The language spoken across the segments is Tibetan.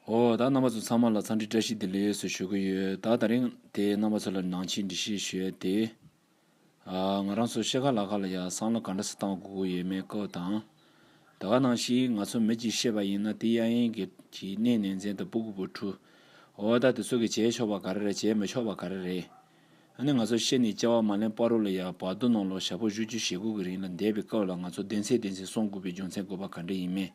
ཨོ། ད་རྣམ་པ་ཚོ་ཚང་མ་ལ་ཚང་འདྲི་བཀྲ་ཤིས་བདེ་ལེགས་སུ་ཞུ་གི་ཡོད། ད་ད་རིང་དེ་རྣམ་པ་ཚོ་ལ་ནང་ཆེན་འདྲི་བཤད་ཞུས་ཡོད་དེ། ང་རང་ཚོ་ཤེས་ཁ་ལག་ཁ་ལ་ཡ་བསམ་བློ་ག་འདྲ་སུ་བཏང་དགོས་ཀྱི་ཡོད་མེད་སྐོར་དང། ད་ག་ནང་བཞིན་ང་ཚོ་མི་གཅིག་ཤེས་པ་ཡིན་ན་དེ་གཡག་ཡན་གྱི་གནས་ནས་མཚན་དུ་སྤུ་གུ་བུ་ཕྲུ། ཨོ། ད་དེ་ཚོ་གི་བྱས་ཆོག་པ་ག་རེ་རེད་བྱས་མི་ཆོག་པ་ག་རེ་རེད། ཨ་ནི་ང་ཚོ་ཤེས་ནས་བཅའ་བ་མ་ལན་པ་རོ་ལ་ཡ་བག་བསྡུ་གནང་ལོ་ཞག་པོ་བཞུ་བཅུ་ཞེ་དགུ་གི་རིང་ལ་འདས་པའི་སྐབས་ལ་ང་ཚོ་བདེན་ཚད་བདེན་ཚད་སོང་དགོས་པའི་རྒྱུ་མཚན་དགོས་པ་ག་འདྲ་ཡིན་མེད།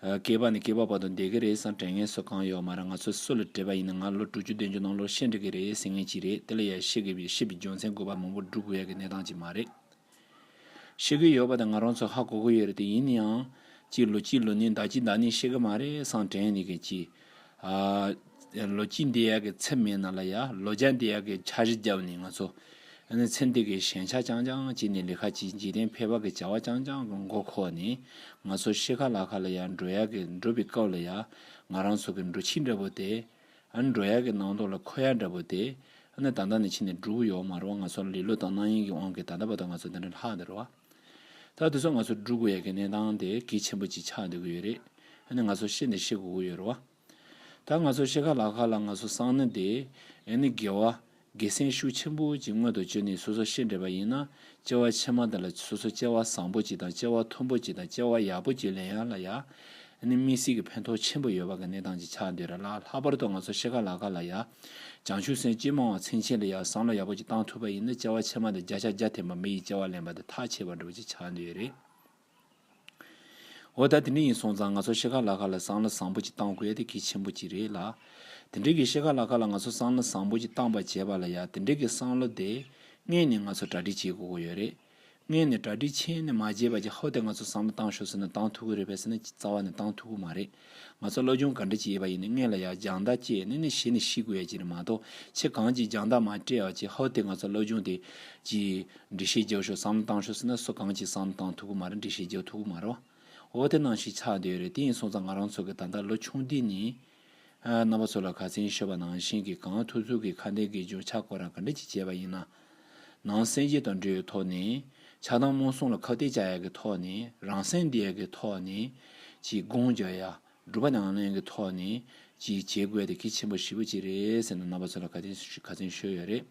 སྐྱེས་པ་ནི་སྐྱེས་པ་བར་དུ་བསྡད་ཀྱི་རེད་བསམ་དྲན་ངལ་གསོ་གང་ཡོད་མ་རེད་ང་ཚོས་སུ་ལ་བྲེལ་བ་ཡིན་ན་ང་ལོ་དྲུག་ཅུ་བདུན་ཅུ་ནང་ལོར་ཤེས་འགྲིག་གི་རེད་ཟེར་ངེས་ཅི་རེད་དེ་ལ་ཡར་ཤེས་ཀྱི་ཤེས་པའི་རྒྱུ་མཚན་དགོས་པ་མང་པོ་བསྒྲུབ་དགོས་ཡ་གི་གནས་སྟངས་ཅིག་མ་རེད། ཤེས་ཀྱི་ཡོད་པ་དང་ང་རང་ཚོ་ཧ་གོ་གི་ཡོད་རེད་དེ་ཡིན་ནའང། གཅིག་ལོ་གཅིག་ལོ་ནི་ཟླ་གཅིག་ཟླ་གཉིས་ཤེས་ཀྱི་མ་རེད་བསམ་དྲན་ནི་གཅིག། ལོ་སྐྱིད་འདི་ཡག་གི་ཚེ་མེད་ན་ལ་ཡ་ལོ་རྒྱ་འདི་ཡག་གི་འཆར་གཞི་བརྒྱབ་ནས་ང་ཚོ་ནི་ཚེ་འདི་གི་ཞན་ཆ་རྐྱང་རྐྱང་བྱས་ནས་ལི་ཁ་ཅིག་འཇིག་རྟེན་ཕལ་བ་གི་བྱ་བ་རྐྱང་རྐྱང་གི་མགོ་ཁོག་ནས་ང་ཚོ་ཤི་ཁ་ལ་ཁ་ལ་ཡ་འགྲོ་ཡག་གི་འགྲོ་བའི་སྐབས་ལ་ཡ་ང་རང་ཚོ་གི་འགྲོ་ཁྱི་འདྲ་བོ་དེ་འགྲོ་ཡག་གི་ནང་དོག་ལ་ཁོ་ཡག་འདྲ་བོ་དེ་ནི་ད་ལྟ་ནས་ཕྱི་ནས་འགྲུབ་ཡོག་མ་རུང་ང་ཚོ་ལི་ལོ་དང་གནང་ཡིན་གི་དབང་གི་ད་ལྟ་བ་དང་ང་ཚོ་འདི་འདྲ་ལྷག་འདི་རུ་བ། ད་དེ་ཚོ་ང་ཚོར་སྒྲུག་དགོས་ཡག་གི་གནས་སྟངས་དེ་གལ་ཆེན་པོ་ཅིག་ཆགས་འདུག་གི་ཡོད་རེད་ཨ་ནི་ང་ཚོར་ཤེས་ནི་ཤེས་དགོས་ཀྱི་ཡོད་རེད་བ། ད་ང་ཚོར་ཤེས་ཁ་ལག་ཁ་ལ་ང་ཚོ་སང་ནི་དེ་ཨ་ནི་དགེ་བ། དགེ་སེམས་ཤུགས་ཆེན་པོ་ཅིག་མངོན་དུ་བྱོས་ནས་སོ་སོ་ཤེས་འདྲེས་པ་ཡིན་ན་སྐྱེ་བ་ཆེན་མ་དེ་ལ་སོ་སོ་སྐྱེ་བ་བཟང་པོ་ཅིག་དང་སྐྱེ་བ་མཐོན་པོ་ཅིག་དང་སྐྱེ་བ་ཡག་པོ་ཅིག་ལེན་ཡ་ལ་ཡ། ནི་མི་སྲིད་ཀྱི་ཕན་ཐོགས་ཆེན་པོ་ཡོད་པ་གི་གནས་སྟངས་ཀྱི་ཆ་འདི་ར་ལ་ལྷག་པར་དུ་ང་ཚོ་ཤེས་ཀ་ལག་ཀ་ལ་ཡ། བྱང་ཆུ་སེང་སྐྱིད་མང་བ་ཚིང་ཆེན་ལ་ཡ་བསམ་བློ་ཡག་པོ་ཅིག་བཏང་ཐུབ་པ་ཡིན་ན་བཅའ་བ་ཕྱེ་མ་དང་བརྒྱ་ཆ་བརྒྱ་འཐེན་པ་མི་ཡི་བཅའ་བ་ལེན་པ་དང་ཐག་ཆད་པ་འགྲོ་བ་ཅིག་ཆགས་འདོད་རེད། འོ་ད་དེ་འདྲ་ཡིན་སོང་ཙང་ང་ཚོ་ཤེས་ཀ་ལག་ཀ་ལ་བསམ་བློ་བཟང་པོ་ཅིག་བཏང་དགོས་དེ་གལ་ཆེན་པོ་ཅིག་རེད་ལ། དེ་འདྲའི་གི་ཤེས་ཀ་ལག་ཀ་ལ་ང་ཚོ་བསམ་བློ་བཟང་པོ་ཅིག་བཏང་པ་བྱས་པ་ལ་ཡ་དེ་འདྲའི་གི་བསམ་བློ་དེ། དངོས་ནས་ང་ཚོ་གྲ་སྒྲིག་བྱེད་དགོས་ཀྱི་ཡོད་རེད། ངས་ནི་གྲ་སྒྲིག་ཆེན་ནས་མ་བརྗེད་པ་ཀྱི་ཧོ་དེ་ང་ཚོ་བསམ་བློ་བཏང་ཤོག་ཟེར་ན་བཏང་ཐུབ་ཀི་རེད་བས་ཟེར་ན་རྩ་བ་ནས་བཏང་ཐུབ་ཀི་མ་རེད། ང་ཚོ་བློ་སྦྱོང་ག་འདྲ་ཅིག་ཡེད་པ་ཡིན་ནི་དངོས་ལ་ཡ་རྒྱང་ལྟ་སྐྱེས་ནི་ནི་ཤི་ནི་ཤི་དགོས་ཡ་ཅིག་རེད་མ་གཏོགས་ཁྱེད་གང་ཅིག་རྒྱང་ལྟ་མ་སྤྲད་ཡ་ཅིག་ཧོ་དེ་ང་ཚོ་བློ་སྦྱོང་དེ། ཀྱི། འགྲེལ་བཤད་རྒྱག་ཤོག་བསམ་བློ་བཏང་ཤོག་ཟེར་ན་སུ་གང་ཅིག་བསམ་བློ་བཏང་ཐུབ་ཀི་མ་རེད་འགྲེལ་བཤད་རྒྱག་ཐུབ་ཀི་མ་རེད། འོ་དེ་གནང་ཞིག་ཆགས་འདོད་རེད་དེ་ཡིན་སོང་ཙང་ང་རང་ཚོ་གི་ད་ལྟ་ལོ་ཆུང་འདི་ནི། རྣམ་པ་ཚོ་ལ་ག་ཚེན་ཤོད་པ་ནང་བཞིན་གྱི་གངས་ཐུག་ཐུག་གི་ཁ་འདེད་ཀྱི་འཇུག་ཆགས་ཁོ་རང་ག་འདྲ་ཅིག་བྱས་པ་ཡིན་ན། ནང་སེམས་ཆེ་དང་འབྲེལ་ཡོད་ཐོག་ནས། ཆགས་སྡང་རྨོངས་གསུམ་ལ་ཁ་གཏད་བཅག་ཡག་གི་ཐོག་ནས་རང་སེམས་བདེ་ཡག་གི་ཐོག་ནས། ཅིག་དགོངས་འཇགས་ཡག་སྒྲུབ་པ་ནང་ལེན་གྱི་ཐོག་ནས། ཅིག་བྱེད་དགོས་དེ་གལ་ཆེན་པོ་བཞི་པོ་ཅིག་རེད་ཟེར་ན་རྣམ་པ་ཚོ་ལ་ག་ཚེན་ཤོད་ཡོད་རེད།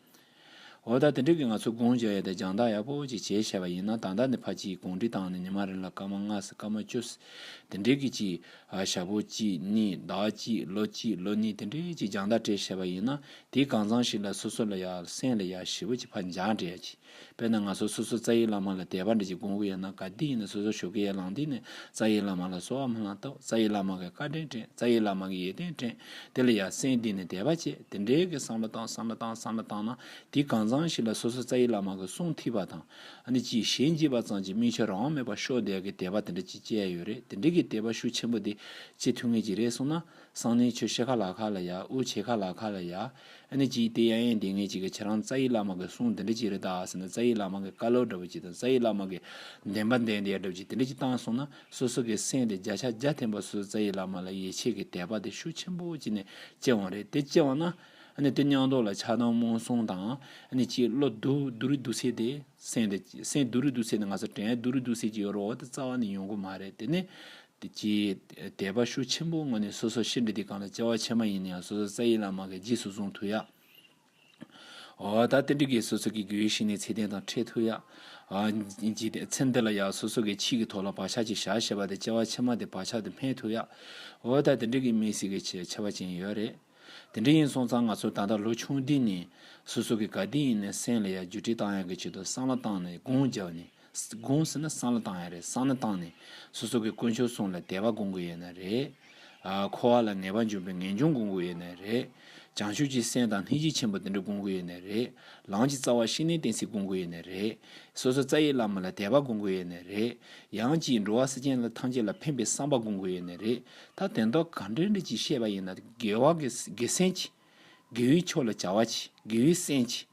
འོ་ད་དེ་འགྲིག་གི་ང་ཚོས་དགོངས་བཞག་ཡག་དེ་སྦྱང་བརྡར་ཡག་པོ་ཅིག་བྱེད་ཤེས་པ་ཡིན་ན་ད་ལྟ་ནས་ཕ་གཅིག་གོང་འདྲི་བཏང་ནས་ཉི་མ་རེ་ལ་སྐར་མ་ལྔ་སྲིད་སྐར་མ་བཅུ་སྲིད་དེ་འགྲིག་གི་གཅིག་ཞག་པོ་གཅིག་གཉིས་ཟླ་བ་གཅིག་ལོ་གཅིག་ལོ་གཉིས་དེ་འདྲའི་ཅིག་སྦྱང་བརྡར་སྤྲད་ཤེས་པ་ཡིན་ན་དེའི་གང་ཚང་ཞིག་ལ་སོ་སོ་ལ་ཡག་སེམས་ལ་ཡག་ཞེ་བོ་ཅིག་ཕར་འཇགས་འགྲེ་ཡག་ཅིག་དཔེར་ན་ང་ཚོ་སོ་སོ་རྩ་ཡིག་བླ་མ་ལ་དད་པ་འདྲེ་ཅིག་དགོངས་ཀི་ཡོད་ན་ག་དུས་ཡིན་ན་སོ་སོ་ཞོག་གི་ཡར་ལངས་དུས་ནས་རྩ་ཡིག་བླ་མ་ལ་གསོལ་བ་མ་ལངས་སྟབས་རྩ་ཡིག་བླ་མ་གི་བཀའ་དྲིན་དྲན་རྩ་ཡིག་བླ་མ་གི་ཡིད་རྟོན་དྲན། དེ་ལ་ཡ་སེན་འདི་ནི་དད་པ་བཅས་དེ་འདྲའི་གི་བསམ་བློ་བཏང་བསམ་བློ་བཏང་བསམ་བློ་བཏང་ན་དེ་གང་ཚང་ཞིག་ལ་སོ་སོ་རྩ་ཡི་བླ་མ་གི་གསུང་ཐིག་པ་དང་ནི་ཅི་ཞེ་འཇིགས་པ་ཙམ་གྱི་མིག་ཆུ་རང་མེད་པར་ཤོག་དད་གི་དད་པ་དེ་འདྲ་ཅིག་བཅས་ཡོད་རེད་དེ་འདྲའི་གི་དད་པ་ཤུགས་ཆེན་པོ་དེ་ཅི་ཐུགས་ངེས་ཅིག་རེད་གསུང་ན་གསང་གནས་ཆོས་ཤེས་ཁ་ལག་ཁ་ལ་ཡ་དབུ་ཆེ་ཁ་ལག་ཁ་ལ་ཡ་ནི་ཅི་སྟེ་ཡ་ཡན་དེ་ངེས་ཅིག་གི་ཁྱེད་རང་རྩ་ཡི་བླ་མ་གི་གསུང་དེ་འདྲ་ཅིག་རེད་ད་ཟེར་ན་རྩ་ཡི་བླ་མ་གི་བཀའ་སློབ་འདྲ་པོ་ཅིག་དང་རྩ་ཡི་བླ་མ་གི་བདེན་པ་བདེན་དེ་ཡ་འདྲ་པོ་ཅིག་དེ་འདྲ་ཅིག་བཏང་གསུང་ན་སོ་སོ་གི་སེམས་དེ་བརྒྱ་ཆ་བརྒྱ་ཐེངས་པ་སུ་རྩ་ཡི་བླ་མ་ལ་ཡིད་ཆེས་ཀྱི་དད་པ་དེ་ཤུགས་ཆེན་པོ་བྱིན་ནས་སྐྱེ་བ་རེད་དེ་སྐྱེ་བ་ན། དེ་སྙང་རྡོ་ལ་ཆགས་སྡང་རྨོངས་གསུང་དང། གཅིག་བློ་བསྡུ་རུལ་བསྡུ་སེལ་དེ་སེམས་དེ། སེམས་བསྡུ་རུལ་བསྡུ་སེལ་ནི་ང་ཚོ་དྲན་བསྡུ་རུལ་བསྡུ་སེལ་གྱི་ཡོ་རོ་དེ་རྩ་བ་ནས་ཡོང་གི་མ་རེད་དེ་ནི། གྱི་དད་པ་ཤུགས་ཆེན་པོ་ངོས་ནས་སོ་སོ་ཤི་འདྲི་དེ་གང་ལ་སྐྱེ་བ་ཕྱི་མ་ཡིན་ན་ཡང་སོ་སོ་རྩ་ཡི་བླ་མ་གི་རྗེས་སུ་བཟུང་ཐུབ་ཡ། ད་ལྟ་འདི་གའི་སོ་སོ་ཀྱི་གུའི་ཤི་ནའི་ཚེ་རྟེན་དང་འཕྲད་ཐུག་ཡ། ཚེ་འདི་ལ་ཡང་སོ་སོ་ཀའི་ཕྱིས་ཀྱི་ཐོག་ལ་བག་ཆགས་ཀྱི་ཞག་ཞེས་པ་དེ་སྐྱེ་བ་ཕྱི་མ་དེ་བག་ཆགས་དེ་སྨད་ཐུག་ཡ། འོ་ད་ལྟ་འདི་གའི་མི་སྲིད་ཀྱི་ཆེ་བ་ཅན་ཡོད་རེད། དེ་འདྲ་ཡིན་སོང་ཙང་ང་ཚོ་ད་ལྟ་ལོ་ཆུང་འདི་ནས་སོ་སོ་ཀྱི་ག་དུས་ཡིན་ནས་སེམས་ལ་ཡ་རྒྱུ་དྲིས་བཏང་ཡ་གི་ཆེད་དུ་སང་ལ་བཏང་ནས་དགུང་བརྒྱབ་ནས། དགོངས་ཟེར་ན་གསང་ལ་བཏང་ཡ་རེད་གསང་ན་བཏང་ནས་སོ་སོ་གི་དཀོན་མཆོག་གསུང་ལ་དད་པ་དགོངས་དགོས་ཡས་ན་རེད། འཁོར་བ་ལ་ངེས་པ་འབྱུང་པའི་ངེས་འབྱུང་དགོངས་དགོས་ཡས་ན་རེད། བྱང་ཆུབ་ཀྱི་སེམས་དང་ལྷན་ཅིག་ཆེན་པོ་དེ་འདྲ་དགོངས་དགོས་ཡས་ན་རེད། ལམ་གྱི་རྩ་བ་ཤིང་ནི་གཏན་སྲིད་དགོངས་དགོས་ཡས་ན་རེད། སོ་སོ་རྩ་ཡི་བླ་མ་ལ་དད་པ་དགོངས་དགོས་ཡས་ན་རེད། ཡང་ཅིག་འགྲོ་བ་སེམས་ཅན་ལ་ཐམས་ཅད་ལ་ཕན་པའི་བསམ་པ་དགོངས་དགོས་ཡས་ན་རེད། ད་དེ་མདོ་ག་འདྲེ་འདྲེ་ཅིག་བཤད་པ་ཡིན་ན་དགེ་བ་དགེ་སེམས་ཅི། དགེ་བའི་ཕྱོགས་ལ་བྱ་བ་ཅི་དགེ་བའི་སེམས་ཅི།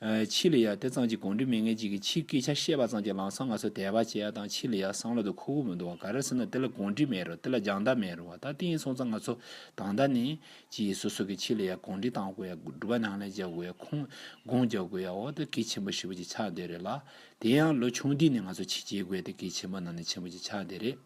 ཕྱི་ལ་ཡང་དེ་ཙམ་གྱིས་གོང་འདྲི་མི་ངེས་ཅིག་གིས་ཕྱིའི་སྐད་ཆ་བཤད་པ་ཙམ་གྱིས་ལང་སང་ང་ཚོ་དད་པ་བྱེད་ཡ་དང་ཕྱི་ལ་ཡང་བསམ་བློ་དང་ཁུར་བོ་མི་འདུག་བ་ག་རེ་ཟེར་ན་དེ་ལ་གོང་འདྲི་མེད་རུང་དེ་ལ་སྦྱང་བརྡར་མེད་རུང་བ་ད་ཏིང་སོང་ཙང་ང་ཚོ་དང་ད་ནས་ཀྱིས་སོ་སོ་གིས་ཕྱི་ལ་ཡང་གོང་འདྲི་གཏང་དགོས་ཡ་སྒྲུབ་པ་ནང་ལ་རྒྱག་དགོས་ཡ་ཁུངས་དགོངས་རྒྱག་དགོས་ཡ་འོ་ད་གལ་ཆེན་པོ་ཞེ་པོ་ཅིག་ཆགས་འདོད་རེད་ལ་དེ་ཡང་ལོ་ཆུང་དུས་ནས་ང་ཚོ་ཕྱི་བྱེད་དགོས་ཏེ་གལ་ཆེན་པོ་ནང་ནས་ཆེན་པོ་ཅིག་ཆགས་འདོད་རེད།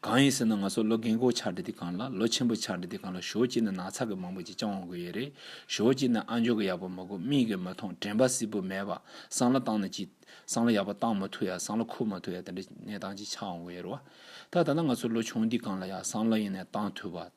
གང་ཡིན་ཟེར་ན་ང་ཚོ་ལོ་རྒན་གོ་ཆག་འདི་དེ་གང་ལ་ལོ་ཆེན་པོ་ཆག་འདི་དེ་གང་ལ་ཞོ་གཅིག་ན་ནག་ཚག་གི་མང་པོ་ཅིག་བཅང་འོང་གི་ཡོད་རེད་ཞོ་གཅིག་ན་ཨ་འཇོག་གི་ཡག་པོ་མ་གོ་མིག་གིས་མ་མཐོང་དྲན་པ་སིལ་བུ་མེད་པ་སང་ལོ་བཏང་ན་ཅིག་སང་ལོ་ཡག་པོ་བཏང་མ་ཐུབ་ཡ་སང་ལོ་ཁུར་མ་ཐུབ་ཡ་དེ་འདྲའི་གནས་སྟངས་ཅིག་ཆག་འོང་གི་ཡོད་རེད་བ། ད་ད་ན་ང་ཚོ་ལོ་ཆུང་འདི་གང་ལ་ཡ་སང་ལོ་ཡིན་ནས་བཏང་ཐུབ་བ།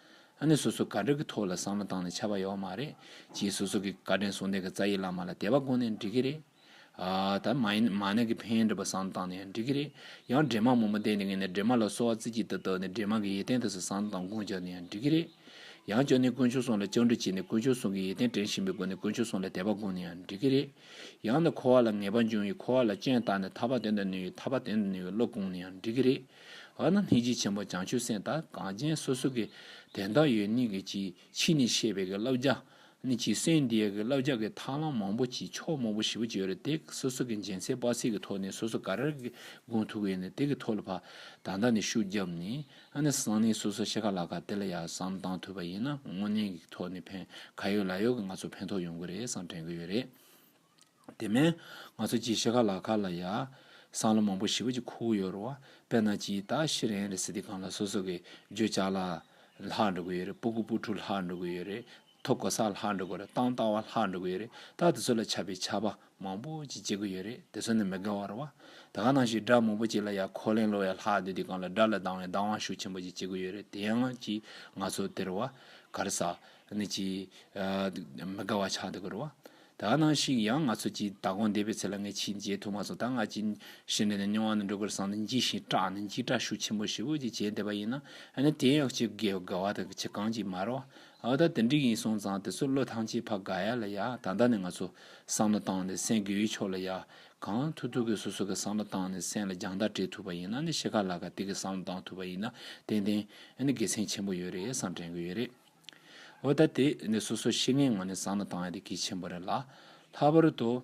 ཨ་ནི་སོ་སོ་དགའ་འདྲ་གི་ཐོག་ལ་བསམ་བློ་བཏང་ནས་བྱ་བ་ཡོད་མ་རེད་ཀྱི་སོ་སོ་གི་དགའ་དྲན་སོང་དེ་ག་རྩ་ཡི་བླ་མ་ལ་དད་པ་དགོ་ནས་འགྲིག་གི་རེད། ད་མ་ཡིན་མ་ནི་གི་ཕན་འདྲ་པོ་བསམ་བློ་བཏང་ནས་ཡང་འགྲིག་གི་རེད། ཡང་འདྲེ་དམག་མང་པོ་བསྡད་འདི་ངས་ནི་འདྲེ་དམག་ལ་གསོ་བ་རྩི་གྱི་ད་ད་ནི་འདྲེ་དམག་གི་ཡེ་ཏན་དེ་སོ་བསམ་བློ་དང་དགོངས་བརྒྱབ་ནས་ཡང་འགྲིག་གི་རེད། ཡང་ཅོ་ནི་དཀོན་མཆོག་སོང་ལ་བཅིངས་འགྲོལ་བྱས་ནས་དཀོན་མཆོག་སོང་གི་ཡེ་ཏན་དྲན་བཞིན་པའི་སྒོ་ནས་དཀོན་མཆོག་སོང་ལ་དད་པ་དགོ་ནས་ཡང་འགྲིག་གི་རེད། ཡང་ནི་འཁོར་བ་ལ་ངེས་པ་འབྱུང་ཡི་འཁོར་བ་ལ་སྤྱན་བརྟག་ནས་ཐར་པ་དེ་འདྲ་ནུས་ཡི་ཐར་པ་དེ་འདྲ་ནུས་པའི་བློ་བསྐོང་ནས་ཡང་འགྲིག་གི་རེད། བ་ན་སྣེ་གཅིག་ཆེན་པོ་བྱང་ཆུབ་སེམས་དང་གངས་ཅན་སོ་སོ་གི་དན་རྟགས་ཡོད་ནི་གི་ཅིག་ཕྱིས་ནི་ཤེས་པའི་གི་བསླབ་བྱ་ནི་ཅིག་སེམས་དེའི་གི་བསླབ་བྱ་གི་ཐང་ལམ་མང་པོ་ཅིག་ཕྱོགས་མང་པོ་བཞི་པོ་ཅིག་ཡོད་རེད་དེ་གི་སོ་སོ་གི་འཇལ་ཚད་དཔག་ཚད་གི་ཐོག་ནས་སོ་སོ་ག་རེར་གི་དགོངས་ཐུག་གི་ནི་དེ་གི་ཐོག་ལ་བ་དང་དག་ནི་ཤུགས་བརྒྱབ་ནི་ཨ་ནི་གསང་གནས་སོ་སོ་ཤེས་ག་ལ་ག་དེ་ལ་ཡ་བསམ་གཏང་ཐུབ་པ་ཡིན་ན་དངོས་གནས་གི་ཐོག་ནི་ཕན་ག་ཡོད་ལ་ཡོད་གི་ང་ཚོ་ཕན་ཐོག་ཡོང་གི་རེད་བསམ་དྲན་གི་ཡོད་རེད། དེ་མིན། ང་ཚོ་སྐྱིད་ཤེས་ཁ་ལག་ཁ་ལ་ཡ། སང་ལོ་མང་པོ་ཞི་བ་གྱི་ཁུག་ཡོད་རོ། དཔེར་ན་སྐྱིད་ད་ཤི་རན་རེད་སི་ཏི་གང་ལ་སོ་སོ་གི་རྗོད་བྱ་ལ། ལྷག་འགྲོ་གི་ཡོད་རེད་པུ་གུ་པུ་ཕྲུག་ལྷག་འགྲོ་གི་ཡོད་རེད། ཐོ་དགོ་ས་ལྷག་འགྲོ་གི་རེད་སྟང་ལྟ་བ་ལྷག་འགྲོ་གི་ཡོད་རེད་ད་དེ་ཚོ་ལ་ཆ་པའི་ཆ་པ་མང་པོ་ཅིག་སྐྱེ་གི་ཡོད་རེད་དེ་ཚོ་ནི་མི་དགེ་བ་རོ། དེ་ག་ནང་ཞིག་སྒྲ་མང་པོ་ཅིག་ལ་ཡ་ཁོ་ལེང་ལོ་ཡ་ལྷག་འདོད་དེ་གང་ལ་སྒྲ་ལ་སྡང་བའི་སྡང་བ་ཤུགས་ཆེན་པོ་ཅིག་སྐྱེ་གི་ཡོད་རེད་དེ་ཡང་སྐྱིད་ང་ཚོ་དེ་རོ། ག་རེ་ས། ནི་སྐྱིད། མི་དགེ་བ་ཆགས་འདུག་གི་རོ། ད་ནང་ཞིག་ཡང་ང་ཚོ་གྱིས་ད་གོང་འདས་པའི་ཚེ་ལ་ངས་ཕྱིའི་མཇལ་ཐུབ་མ་སོང་ད་ང་ཅིང་ཞི་འགྲན་ནས་མྱོང་བ་ནི་འགྲོ་ཀུར་སངས་ནས་འཇིགས་ཤིང་སྐྲག་ནས་འཇིགས་སྐྲག་ཤུགས་ཆེན་པོ་ཞེ་བོ་ཅིག་བྱས་འདེབས་པ་ཡིན་ན་ནི་དེ་ཡང་ཅི་དགའི་དགའ་བ་དང་ཅི་གང་ཅིག་མ་རོག་ཨ་ད་དེ་འགྲིག་ཡིན་སོང་ཙང་དེ་ཚོ་བློས་ཐང་ཆད་ཕ་དགའ་ཡ་ལ་ཡ་ད་ལྟ་ནས་ང་ཚོ་བསམ་བློ་བཏང་ནས་སེང་གེའུའི་ཕྱོགས་ལ་ཡ་གང་ཐུག་ཐུག་གིས་སོ་སོ་གི་བསམ་བློ་བཏང་ནས་སེང་ལ་རྒྱང་ལྟ་སྤྲད་ཐུབ་པ་ཡིན་ན་ནི་ཤེས་ག་ལ་ག་དེ་གིས་བསམ་བློ་བཏང་ཐུབ་པ་ཡིན་ན་ཏན་ཏན་ནི་དགེ་མཚན་ཆེན་པོ་ཡོད་རེད་བསམ་དྲན་གི་ཡོད་རེད། འོ་ད་དེ་ནི་སོ་སོའི་ཤེས་ངེས་ངོ་ནས་བཟང་ན་དང་ཡ་དེ་གལ་ཆེན་པོ་རེད་ལ། ལྷག་པར་དུ།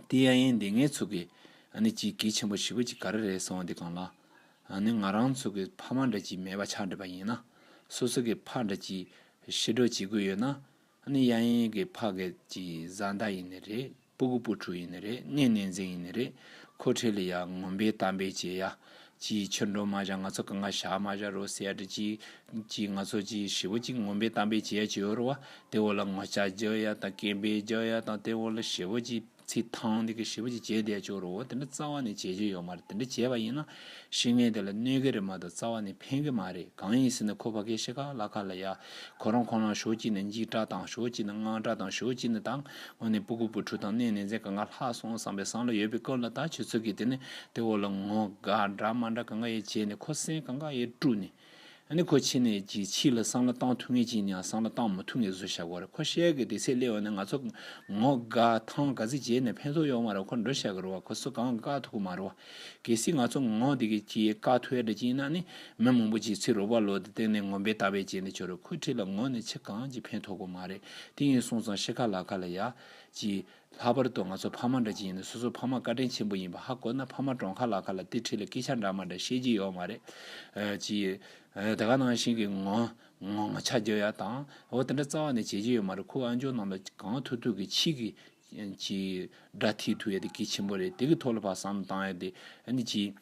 དེ་ཡ་ཡིན་དེ་ངའི་ཚུགས་ཀྱི། ནི་གཅིག་གལ་ཆེན་པོ་བཞི་པོ་གཅིག་ག་རེ་རེད་སོང་བ་འདི་གང་ལ། ནི་ང་རང་ཚུགས་ཀྱི་ཕ་མ་འདྲ་གཅིག་མེད་པ་ཆགས་འདྲ་པ་ཡིན་ན། སོ་སོ་གི་ཕ་འདྲ་གཅིག། ཤི་འགྲོ་བྱེད་དགོས་ཡོད་ན། ནི་ཡ་ཡིན་གི་ཕ་གལ་གྱི་བཟའ་ཟླ་ཡིན་ནི་རེད། སྤུ་གུ་སྤུ་གྲུ་ཡིན་ནི་རེད་གནས་གནས་འཛིན་ཡིན་ནི་རེད་ཁོ་ཁྲེལ་ལི་ཡག་ངོམ་པའི་གཏམ་དཔེ་བྱེད་ཡ། ཅིའི་ཕྱིར་འགྲོ་མ་བཞག་ང་ཚོ་གང་ག་བཞག་མ་བཞག་རོ་སེ་ཡ་འདྲི་ཅི། ཅིའི་ང་ཚོ་ཅིའི་ཧྲིལ་བོ་ཅིག་ངོམ་པའི་གཏམ་དཔེ་བྱེད་ཡ་བྱེད་འོར་བ་དེ་འོག་ལ་ངོ་ལྕགས་རྒྱག་ཡ་དང་སྐེམ་པས་རྒྱག་ཡ་དང་དེ་འོག་ལ་ཧྲིལ་བོ་ཅིག་ཚིག་ཐང་དེ་གི་ཧྲིལ་བོ་ཅིག་བྱེད་བསྡད་བྱུང་རོ་དེ་འདྲ་རྩ་བ་ནས་བྱེད་རྒྱུ་ཡོད་མ་རེད་དེ་འདྲ་བྱས་པ་ཡིན་ན་ཤེས་ངེས་དེ་ལ་གནོད་གི་རེད་མ་གཏོགས་རྩ་བ་ནས་ཕན་གི་མ་རེད་གང་ཡིན་ཟེར་ན་ཁོ་ཕ་གའི་ཤེས་ཁག་བླ་ཁ་ལ་ཡ། ཁོ་རང་ཁོང་རང་ཞོགས་གཅིག་ནས་འཇིགས་སྐྲག་དང་ཞོགས་གཅིག་ནས་དངངས་སྐྲག་དང་ཞོགས་གཅིག་ནས་ད་ངོ་ནས་སྤུ་གུ་སྤུ་ཕྲུག་དང་གནས་ནས་ཟས་ག་འགའ་ལྷག་སོང་བསམ་པའི་སང་ལ་ཡོད་པའི་སྐབས་ལ་ད་ཁྱོད་ཚོ་གིས་དེ་ནས་དེ་འོག་ལ་ངོ་དགའ་འདྲ་མ་འདྲ་ག་འགའ་ཡས་བྱས་ནས་ཁོ་སེམས་ག་འགའ་ཡས་དཀྲུགས་ནས་ནི་ཁོ་ཕྱི་ནས་ཀྱི་ཕྱི་ལ་སང་ལ་བཏང་ཐུག་ངེས་ཀྱིན་ཡང་སང་ལ་བཏང་མི་ཐུག་ངེས་བཟོ་བྱ་དགོས་རེད་ཁོ་ཤེས་གི་དེ་ཚེ་སླེ་འོ་ནི་ང་ཚོ་ངོ་དགའ་ཐང་དགའ་ཚེ་རྗེས་ནས་ཕན་ཐོག་ཡོག་མ་རེད་ཁོ་འགྲོ་བྱ་གི་རོ་བ་ཁོ་སུ་གང་དགའ་ཐུག་གི་མ་རེད་བ། གལ་སྲིད་ང་ཚོ་ངོ་དེ་གི་ཀྱི་དགའ་ཐུག་ཡ་འདྲ་ཀྱིན་ན་ནི་མི་མང་པོ་ཀྱི་ཚེ་རོ་བ་ལོ་དེ་སྟེང་ནས་ངོ་འབེ་ལྟ་བའི་རྗེས་ནས་ཆོ་རེད་ཁོ་ཁྲི་ལ་ངོ་ནི་ཕྱི་གང་ཀྱི་ཕན་ཐོག་གི་མ་རེད་དེ་ཡིན་སོང་ཙང་ཤི་ཁ་ལ་ཁ་ལ་ཡ། ཀྱི། ལྷག་པར་དུ་ང་ཚོ་ཕ་མ་འདྲ་གཅིག་ཡིན་ན་སོ་སོ་ཕ་མ་བཀའ་དྲིན་ཆེན་པོ་ཡིན་པ་ཧ་གོ་ན་ཕ་མ་གྲོང་ཁ་ལ་ཁ་ལ་ཏི་ཁྲི་ལ་སྐད་ཆ་འདྲ་མ་འདྲ་བཤད་ཀྱི་ཡོད་མ་རེད། ཅི། དེ་ག་ནང་བཞིན་གྱི་ངོ། ངོ། ཆ་རྒྱོ་ཡ་དང། འོ་དེ་འདྲ་རྩ་བ་ནས་བྱེད་ཀྱི་ཡོད་མ་རེད་ཁོ་ཨ་འཇོག་རྣམས་ལ་གང་ཐུག་ཐུག་གི་ཕྱིས་ཀྱི། ཅི། སྒྲ་ཐིག་ཐུག་ཡ་དེ་གལ་ཆེན་པོ་རེད་དེ་གི་ཐོག་ལ་བ་བསམ་བློ་བཏང་ཡ་དེ། ཅི།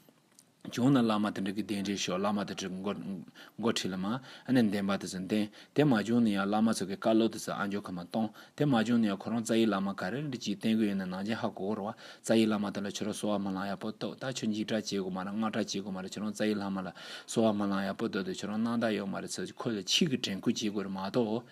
བྱུང་ན་བླ་མ་དེ་འདྲ་གི་གདན་འདྲེན་ཤོག་བླ་མ་དེ་འདྲའི་འགོ་ཁྲིད་ལ་མ་ནས་འདེམས་པ་དེ་ཚོ་འདེམས། དེ་མ་བྱུང་ན་ཡང་བླ་མ་ཚོ་གི་བཀའ་སློབ་དེ་ཚོ་ཨ་འཇོག་གི་མ་གཏོང། དེ་མ་བྱུང་ན་ཡང་ཁོ་རང་རྩ་ཡི་བླ་མ་ག་རེ་རེད་ཅིག་བསྟེན་དགོས་ཡོད་ན་ནང་བྱན་ཧ་གོ་གོ་རོགས། རྩ་ཡི་བླ་མ་དེ་ལ་ཆོས་ར་གསོལ་བ་མ་ལང་ཡག་པོ་བཏོད་ད་ཆོས་འཇིགས་སྐྲག་བྱེད་དགོས་མ་ར་སྔགས་སྐྲག་བྱེད་དགོས་མ་ར་ཁྱོད་རང་རྩ་ཡི་བླ་མ་ལ་གསོལ་བ་མ་ལང་ཡག་པོ་བཏོད་དེ་ཁྱོད་རང་སྣང་དག་ཡོད་མ་རེད་ཚོད་ཁོ་ལ་ཆིག་གི་དྲན་སྐུལ་བྱེད་དགོས་རེད་མ་གཏོགས།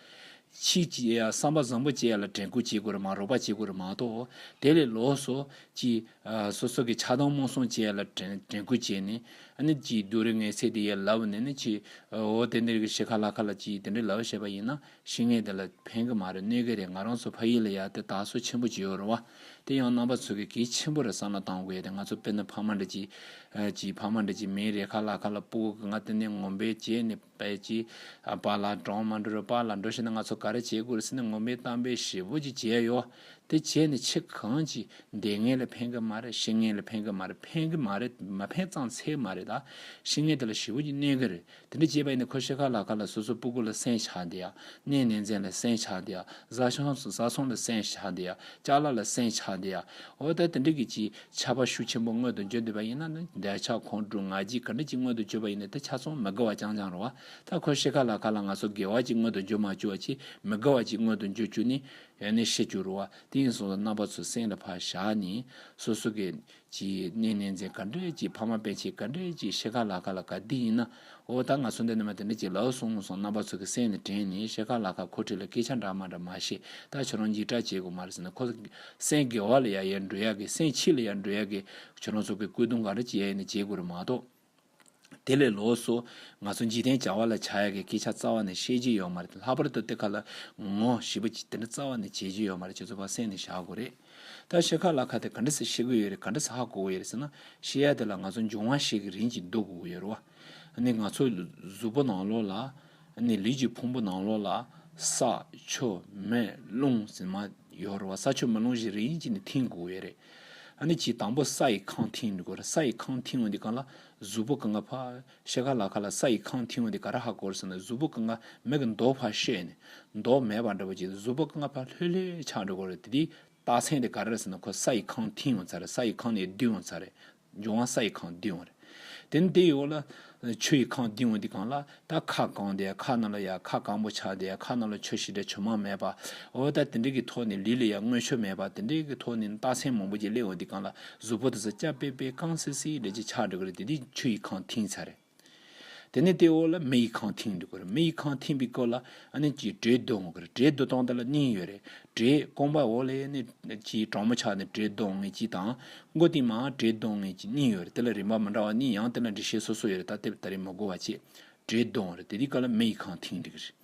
གཅིག་གིས་བསམ་པ་བཟང་པོ་བཅས་ལ་དྲན་སྐུལ་བྱེད་དགོས་རེད་མ་རོགས་པ་བྱེད་དགོས་རེད་མ་གཏོགས་དེ་ལས་ལོགས་སུ། གཅིག་སོ་སོ་གི་ཆགས་སྡང་རྨོངས་གསུམ་བཅས་ལ་དྲན་སྐུལ་བྱས་ནས། ནི། གཅིག་རྡོ་རིང་ངའི་ཚེ་དེ་ཡལ་ལབ་བ་ནས་ནི། གཅིག་འོ་དེ་འདིར་གི་ཤི་ཁ་ལ་ཁ་ལ་གཅིག་དེ་འདྲས་ལབ་བྱས་པ་ཡིན་ན་ཤི་ངེས་དེ་ལ་ཕན་གི་མ་རེད་གནོད་གི་རེད་ང་རང་ཚོ་ཕ་ཡུལ་ལ་ཡལ་དེ་དག་སོ་ཆེན་པོ་བྱེད་འོས་རུང་བ། དེ་ཡང་རྣམ་པ་ཚོ་གི་གེགས་ཆེན་པོ་རེད་བསམ་བློ་གཏང་དགོས་ཡོད་དེ་ང་ཚོ་དཔེར་ན་ཕ་མ་འདྲ་གཅིག། གཅིག་ཕ་མ་འདྲ་གཅིག་མིའི་རེ་ཁ་ལ་ཁ་ལ་སྤུག་གི་ང་དེ་ནས་ངོམ་པའི་རྗེས་ནི། པའི་བྱིས་པ་ལ་འབྲོང་མ་འབྲི་རུ་པ་ལ་འགྲོ་ཤེས་ན་ང་ཚོ་ག་རེ་བྱེད་དགོས་རེད་ཟེར་ན་ངོ་མི་གཏམ་པའི་ཞེ་བོ་ཅིག་བྱས་ཡོད་དེ་བྱས་ནས་ཁྱི་གང་གྱིས་འདེད་ངན་ལ་ཕན་གི་མ་རེད་ཤི་ངན་ལ་ཕན་གི་མ་རེད་ཕན་གི་མ་རེད་མ་ཕན་གཙང་འཚལ་མ་རེད་ད་ཤི་ངན་དེ་ལ་ཞེ་བོ་ཅིག་གནས་གི་རེད་དེ་འདྲ་བྱས་པ་ཡིན་ན་ཁོ་ཤི་ཁ་ལག་ཁ་ལ་སོ་སོ་སྤུ་གུ་ལ་སེན་ཆགས་འདི་ཡ་གནས་ནན་ཙན་ལ་སེན་ཆགས་འདི་ཡ་བཟའ་བཟའ་ཚང་ལ་སེན་ཆགས་འདི་ཡ་ལྕགས་ལ་ལ་སེན་ཆགས་འདི་ཡ་འོ་ད་དེ་འདྲ་གི་བྱིས་ཆ་བ་ཤུགས་ཆེན་པོ་མངོན་དུ་བརྗོད་འདོད་པ་ཡིན་ན་ནི་འདོད་ཆགས་ཁོང་ཁྲོ་ང་རྒྱལ་ག་འདྲ་ཅིག་མངོན་དུ་བརྗོད་པ་ཡིན་ནི་དེ་ཆ་ཚང་མི་དགེ་བ་རྐྱང་རྐྱང་རུང་བ་དག་ཁོས་ཤེས་ག་ལ་ག་ལ་ང་ཚོ་དགེ་བ་ཅིག་མངོན་དུ་བརྗོད་མ་བཅུ་བ་ཅིག་མི་དགེ་བ་ཅིག་མངོན་དུ་བརྗོད་བཅུ་ནི་ཡང་ནི་བཤད་བཅུ་རུང་བ་དེ་ཡིན་སོང་ལ་རྣམ་པ་ཚོ་སེང་ལ་ཕར་བཞག་ནས་སོ་སོ་གི། ཅིག་གནས་གནས་མཚན་ག་འདྲ་ཅིག་ཕ་མ་པན་ཆེན་ག་འདྲ་ཅིག་ཤེས་ག་ལ་ག་ལ་ག་འདི་ཡིན་ན། འོ་ད་ང་སུ་འདི་ནི་མ་དེ་འདི་ཅིག་ལགས་གསུངས་སོང་རྣམ་པ་ཚོ་གི་སེམས་ནི་དྲན་ནས་ཤེལ་ཁ་ལ་ཁ་ཁོ་ཁྲིད་ལ་སྐད་ཆ་འདྲ་མ་འདྲ་མ་བཤད་ད་ཁྱོད་རང་ཡིག་གྲགས་བྱེད་དགོས་མ་རེད་ཟེར་ནས་ཁོ་ལ་སེམས་དགེ་བ་ལ་ཡ་ཡལ་འགྲོ་ཡག་གི་སེམས་ཕྱི་ལ་ཡལ་འགྲོ་ཡག་གི་ཁྱོད་རང་ཚོ་གི་སྐུལ་སྡུང་ག་རེ་བྱེད་ཡ་ཡིན་ནི་བྱེད་དགོས་རེད་མ་གཏོགས། དེ་ལས་ལོགས་སུ་ང་ཚོ་འཇིག་རྟེན་བྱ་བ་ལ་བྱ་ཡག་གི་སྐད་ཆ་རྩ་བ་ནས་བཤད་ཀྱི་ཡོད་མ་རེད་ལྷག་པར་དུ་དེ་ག་ལ་ངོ་ཞེས་པ་ཅིག་དེ་འདྲ་རྩ་བ་ནས་བྱེད་ཀྱི་ཡོད་མ་རེད་ཁྱོད་ཚོ་བ་སེམས་ནས་བཞག་དགོས་རེད། ད་བཤད་ཁ་ལ་ཁ་དེ་ག་འདྲ་ཟེ་ཤེས་གི་ཡོད་རེད་ག་འདྲ་ཟེ་ཧ་གོ་གི་ཡོད་རེད་ཟེར་ན་ཤེས་ཡ་དེ་ལ་ང་ཚོ་འབྱུང་བ་ཞིག་གི་རིན་གྱིས་འདོད་གི་ཡོད་རེད་བ། ནི་ང་ཚོ་གཟུགས་པོ་ནང་ལོགས་ལ། ནི་ལུས་ཀྱི་ཕུང་པོ་ནང་ལོགས་ལ། ས། ཆུ། མེ། རླུང། ཟེར་མ། ཡོད་རེད་བ་ས་ཆུ་མེ་རླུང་བཞི་རིན་གྱིས་ནི་འཐིང་གི་ཡོད་རེད། ནི་གྱིས་དང་པོ་ས་ཡི་ཁང་འཐིང་དགོས་རེད་ས་ཡི་ཁང་འཐིང་བ་འདི་གང་ལ་གཟུགས་པོ་གང་ག་ཕ། ཤེལ་ཁ་ལ་ཁ་ལ་ས་ཡི་ཁང་ཐིའོ་འདི་ག་ར་ཧ་གོར་ཟེར་ན་གཟུགས་པོ་ཀ་ང་མེད་ཀྱི་མདོག་ཕར་ཤེས་ནས་མདོག་མེད་པ་འདྲ་བོ་གྱིས་གཟུགས་པོ་ཀ་ང་ཕར་ལྷོད་ལྷོད་ཆགས་འགྲོ་གོ་རེད་དེ་དེའི་རྟགས་མཚན་འདི་ག་ར་རེད་ཟེར་ན་ཁོ་ས་ཡི་ཁང་ཐིའོ་ཚ་རེད་ས་ཡི་ཁང་ནས་བསྡུས་འོང་ཚ་རེད་འབྱུང་བ་ས་ཡི་ཁང་བསྡུས་འོང་རེད་དེ་ནི་དེ་ཡོད་ལ། ཆུ་ཡི་ཁང་བསྡུས་འོང་འདི་གང་ལ་ད་ཁ་བསྐང་འདི་ཁ་རྣ་ལ་ཡ་ཁ་བསྐང་པོ་ཆགས་འདི་ཁ་རྣ་ལ་ཆུ་ཞི་འདྲ་ཆུ་མང་མེད་པ་འོ་ད་དེ་འདྲའི་གི་ཐོག་ནས་ལུས་ལ་ཡ་དངོས་ཆུ་མེད་པ་དེ་འདྲའི་གི་ཐོག་ནས་རྟགས་མཚན་མང་པོ་གྱིས་སླེབས་འོང་འདི་གང་ལ་གཟུགས་པོ་དེ་ཚོ་སྐྱ་པེ་པེ་རྐང་སིལ་སིལ་རེད་ཅེས་ཆགས་འགྲོ་གི་རེད་དེ་དུས་ཆུ་ཡི་ཁང་མཐིང་ཚར་རེད། དེ་ནས་ལྟེ་འོག་ལ་མེ་ཡི་ཁང་མཐིང་འགྲོ་གི་རེད་མེ་ཡི་ཁང་མཐིང་པའི་སྐོར་ལ་ཨ་ནེ་ཀྱིས་དྲེའི་རྡོ་ངོ་གི་རེད་དྲེའི་རྡོ་སྟོང་དེ་ལ་སྙིང་ཡོད་རེད་དྲེས་རྐང་པ་འོག་ལས་ནས་ཀྱིས་དྲང་མོ་ཆགས་ནས་དྲེའི་རྡོ་ངོས་ཀྱི་དང་མགོ་སྟེང་མ་དྲེའི་རྡོ་ངོས་ཀྱི་སྙིང་ཡོད་རེད་དེ་ལ་རིམ་པ་མི་འདྲ་བ་གཉིས་ཡང་དེ་ལ་འགྲེལ་བཤད་སོ་སོ་ཡོད་རེད་ད་དེབ་ད་རེས་མ་གོ་བ་བཅས་དྲེའི་རྡོ་ངོ་རེད་དེ་དུས་སྐར་ལ་མེ་ཡི་ཁང་མཐིང་འགྲོ་གི་རེད།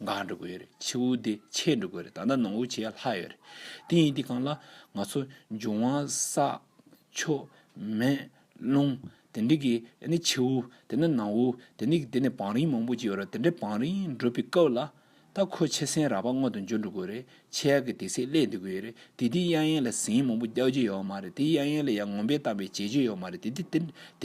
འགག་འགྲོ་དགོས་རེད་ཆུ་བོ་འདི་ཆད་འགྲོ་དགོས་རེད་ད་ནངས་བོ་བྱས་ལྷག་ཡོད་རེད་དེ་ཡིན་དེ་གང་ལ་ང་ཚོ་འབྱུང་བ་ས་ཕྱོགས་མེ་རླུང་དེ་འདྲ་གི་ནི་ཆུ་བོ་དེ་ནི་ནངས་བོ་དེ་ནི་དེ་ནི་བང་རིམ་མང་པོ་ཅིག་ཡོད་རེད་དེ་འདྲའི་བང་རིམ་བསྒྲུབ་པའི་སྐབས་ལ་ད་ཁོས་ཆེ་སེང་རག་པ་སྔོན་དུ་འཇོག་འགྲོ་དགོས་རེད་ཆེ་ཡག་གི་དེ་སྲིད་སླེ་འདི་དགོས་ཡོད་རེད་དེ་དེའི་གཡག་ཡན་ལ་ཟིང་མང་པོ་རྒྱག་རྒྱུ་ཡོད་མ་རེད་དེའི་གཡག་ཡན་ལ་ཡང་ངོམ་པའི་གཏམ་པའི་བྱེད་རྒྱུ་ཡོད་མ་རེད་དེ་དེ་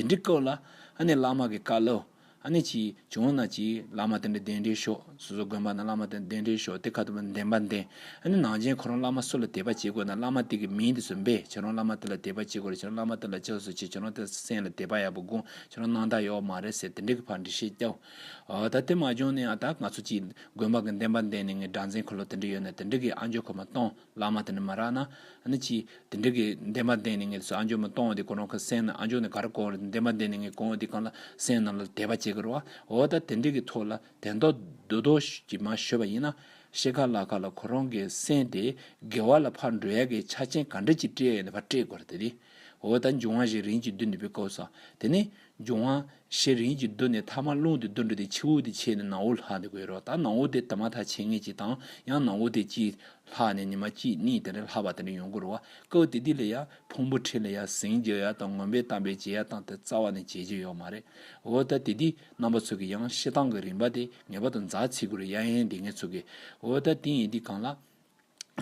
འདྲའི་སྐབས་ལ་ཨ་ནེ་བླ་མ་གི་བཀའ་སློབ། ཨ་ནེ་ཅི། བྱུང་བ་ན་ཅི། བླ་མ་དེ་འདྲ་གདན་འདྲེན་ཤོག། སོ་སོ་དགོན་པ་ན་བླ་མ་དེ་འདྲ་གདན་འདྲེན་ཤོག་དེ་ཁ་ཐུབ་པ་འདེམས་པ་འདེམས། ཨ་ནེ་ནང་ཆེན་ཁོ་རང་བླ་མ་སུ་ལ་དད་པ་བྱེད་དགོས་ན་བླ་མ་དེ་གི་མིང་དེ་ཚོ་འབེབས་ཁྱེད་རང་བླ་མ་དེ་ལ་དད་པ་བྱེད་དགོས་རེད་ཁྱེད་རང་བླ་མ་དེ་ལ་ཅི་ཟེར་བྱེད་ཁྱེད་རང་དེ་སེམས་ལ་དད་པ་ཡག་པོ་དགོངས་ཁྱེད་རང་སྣང་དག་ཡོད་མ་རེད་ཟེར་དེ་འདྲ་གི་བར་འདྲི་བཤད་རྒྱབ། ད་དེ་མ་བྱུང་ནས་ད་ང་ཚོ་ཅིག་དགོན་པ་གི་འདེམས་པ་འདེམས་ནས་ངའི་སྦྲ་འཛིན་ཁོ་ལོ་དེ་འདྲ་ཡོད་ན་དེ་འདྲ་གི་ཨ་འཇོ་ཁོ་མ་གཏོང། བླ་མ་དེ་ནི་མ་རག་ན། ནི་ཅི། དེ་འདྲ་གི། འདས་མ་འདས་ནི་ངས་སོ་ཨ་མཆོག་མི་གཏོང་བ་དེ་གོ་རང་ཁ་སེང་ན་ཨ་མཆོག་ནི་ག་རེ་གོ། འདས་མ་འདས་ནི་ངས་གོང་བ་དེ་གང་ལ་སེང་རྣམས་ལ་དད་པ་བྱེད་ཀི་རོ། འོ་ད་དེ་འདྲ་གི་ཐོག་ལ་དད་མདོག་བདུད་དོ་ཞིག་མ་ཤོད་པ་ཡིན་ན། ཤེས་ཁ་ལ་ཁ་ལ་གོ་རང་གི་སེང་དེ་དགེ་བ་ལ་ཕར་འགྲོ་ཡ་གི་ཆ་ཆེན་ག་འདྲ་ཅིག་སྤྲད་ཡ་ནི་ཕར་སྤྲད་དགོས་ར་དེ་རེད། འོ་ད་འབྱུང་བ་ཞིག་རིན་གྱི་བདུད་འདི་པའི་སྐབས་སོ། དེ་ནི། འབྱུང་བ། ཞེས་རིན་གྱིས་བསྡུ་ནས་ཐ་མར་རླུང་དེ་བསྡུ་འགྲོ་སྟེ་ཕྱི་འོག་དེ་ཕྱེས་ནས་ནང་འོག་ལྷག་ནས་དགོད་རོགས་ད་ནང་འོག་དེ་ད་མ་ཐག་ཕྱེ་ངེས་ཅིག་དང་ཡང་ནང་འོག་དེ་གཅིག། ལྷག་ནས་ནི་མ་གཅིག་གཉིས་དེ་རེ་ལྷག་པ་དེ་རེ་ཡོང་དགོས་རོགས་སྐབས་བདེ་སྡིག་ལ་ཡ། ཕུང་པོ་ཁྲི་ལ་ཡ་ཟིང་རྒྱ་ཡ་དང་ངོམ་པའི་གཏམ་པའི་རྗེས་ཡ་དང་དེ་རྩ་བ་ནས་བྱེད་རྗེས་ཡོག་མ་རེད། འོ་ད་དེ་དུས་རྣམ་པ་ཚུགས་ཀྱི་ཡང་ཤེས་སྟངས་ཀྱི་རིམ་པ་དེ་ངེས་པ་དང་མཛའ་ཚིག་གུ་རུ་ཡ་ཡན་དེ་ངས་ཚུགས་ཀྱི། འོ་ད་དེ་ཡིན་དུས་གང་ལ།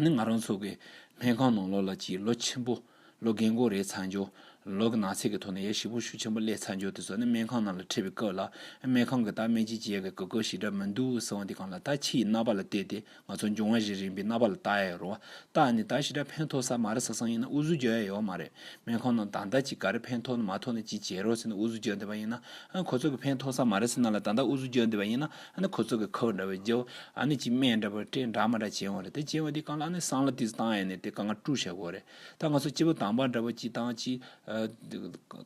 ནི་ང་རང་ཚོ་གི་སྨན་ཁང་ནང་ལོགས་ལ་གྱི་ལོ་ཆེན་པོ། ལོ་རྒན་གོ་རེའི་ཚ་འགྱུར། ལོ་གི་ནག་ཚད་ཀྱི་ཐོག་ནས་ཡ་ཞིག་པོ་ཤུགས་ཆེན་པོ་སླེ་ཚ་འགྱུར་དེ་ཚོ་ནི་སྨན་ཁང་ནང་ལ་ཁྲིད་པའི་སྐབས་ལ་སྨན་ཁང་གི་དག་སྨན་གྱི་རྗེས་ཀྱི་གོ་སྐབས་ཤིག་འདྲ་མི་འདུག་ཟེར་བ་འདི་གང་ལ་ད་ཁྱི་ཡི་རྣ་བ་ལ་བལྟས་ཏེ་ང་ཚོ་འབྱུང་བ་རེ་རིང་པའི་རྣ་བ་ལ་བལྟ་ཡ་ཡོད་རུང་བ་ད་ནི་ད་ཞིག་འདྲ་ཕན་ཐོག་ས་མ་རེད་ས་སང་ཡིན་ན་ཨུ་ཟུ་རྒྱོ་ཡ་ཡོད་མ་རེད་སྨན་ཁང་ནང་ད་ལྟ་ཅིག་ག་རེ་ཕན་ཐོག་ནི་མ་ཐོག་ནི་ཅིག་བྱེད་རོགས་ཟེར་ནས་ཨུ་ཟུ་རྒྱོ་འདི་པ་ཡིན་ན་ཨ་ཁོ་ཚོ་གི་ཕན་ཐོག་ས་མ་རེད་ཟེར་ན་ལ་ད་ད་ཨུ་ཟུ་རྒྱོ་འདི་པ་ཡིན་ན་ཨ་ནི་ཁོ་ཚོ་གི་ཁོའོ་འདྲ་བའི་རྒྱའོ་ཨ་ནི་གྱི་སྨན་འདྲ་བའི་སྐྲའི་འདྲ་མ་འདྲ་བྱེད་འོང་རེད་དེ་བྱེད་འོང་དེ་གང་ལ་ཨ་ནི་སང་ལ་དུས་སུ་བཏང་ཡས་ནས་དེ་གང་ང་ཀྲུག་བྱེད་དགོས་རེད་ད་ང་ཚོ་སྐྱེ་བོ་དང་པ་འདྲ་བ་གྱི་དང་གྱི།